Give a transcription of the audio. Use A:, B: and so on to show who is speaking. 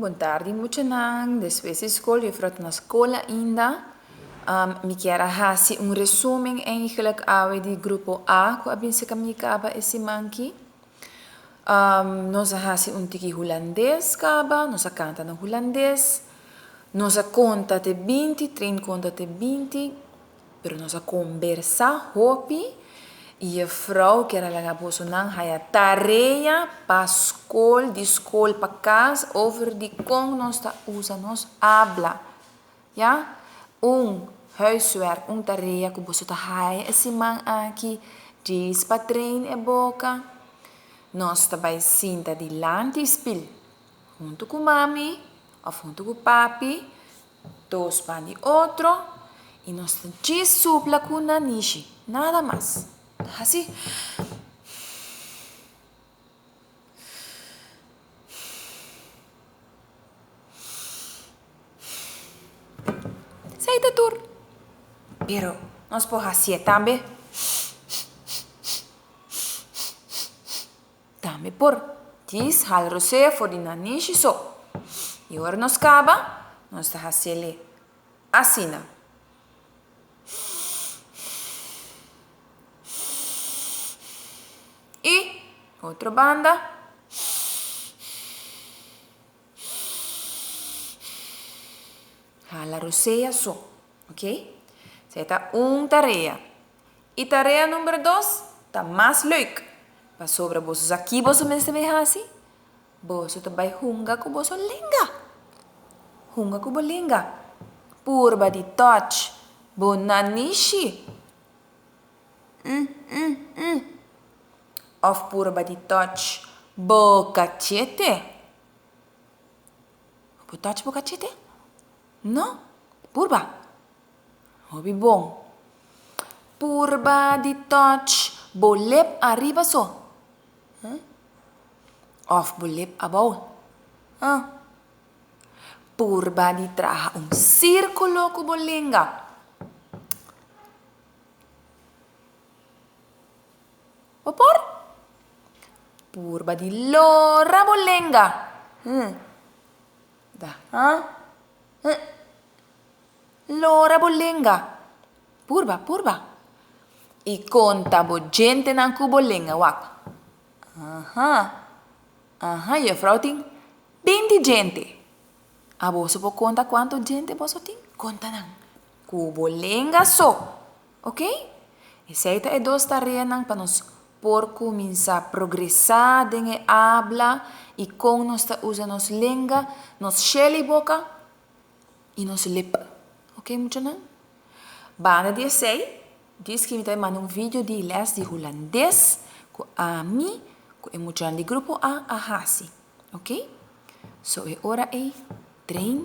A: Bon tardi muchanan, despues di skol, yo fro ta na skol ainda, mi kier a hasi un resumen eigenlijk awe di grupo A ku a bin ser kamiekaba e siman ki, nos a hasi un tiki hulandes kaba, nos a kanta na hulandes, nos a konta te binti, Train konta te binti, Pero nos a kombersá hopi i e frou kier a laga bosonan haya tarea pa skol, di skol pa kas, over di kon nos ta usa nos habla. Ya? Un huiswerk, un tarea ku boso ta haya e siman aki, djis pa train e boka. Nos ta bai sinta dilanti i spil, huntu ku mami òf huntu ku papi. Dos pan di otro y nos ta djis supla cu na nishi, nada mas. Haci. Esey ta tur. Pero nos por hacié tambe. Tambe por kies hal rosé for di nan nishi so. I ora nos kaba, nos ta hasel'e asina. I otro banda. Hala rosé a so. Ok. Sa e ta un tarea. I tarea number dos ta mas leuk, pasobra boso sa ki boso mester bay hasi, boso ta bay hunga ku boso lenga. Hunga ku bo lenga. Purba di touch bo nanishi. Òf purba di touch bo kachete. Bo touch bo kachete? No. Purba. Hopi bon. Purba di touch bo lep ariba so. Huh? Of bo lep abou. Huh? Purba di traha un sirkulo ku bo lenga. Bo por. Purba di lora bo lenga. Huh? Da, ha? Hë? Lora bo lenga. Purba, purba. I konta bo djentenan ku bo lenga wak. Aha. Aha, yefrou tin binti djente. A boso por konta kuantu djente boso tin? Konta nan ku bo lenga so. Ok? Esei ta e dos tareanan pa nos por kuminsá progresá den e habla i kon nos ta usa nos lenga, nos shel i boka i nos lip. Ok muchanan? Banda di esei, dis ki mi ta bin manda un vidio di lès di hulandes ku ami ku e muchanan di Grupo A a hasi. Ok? So e ora ei train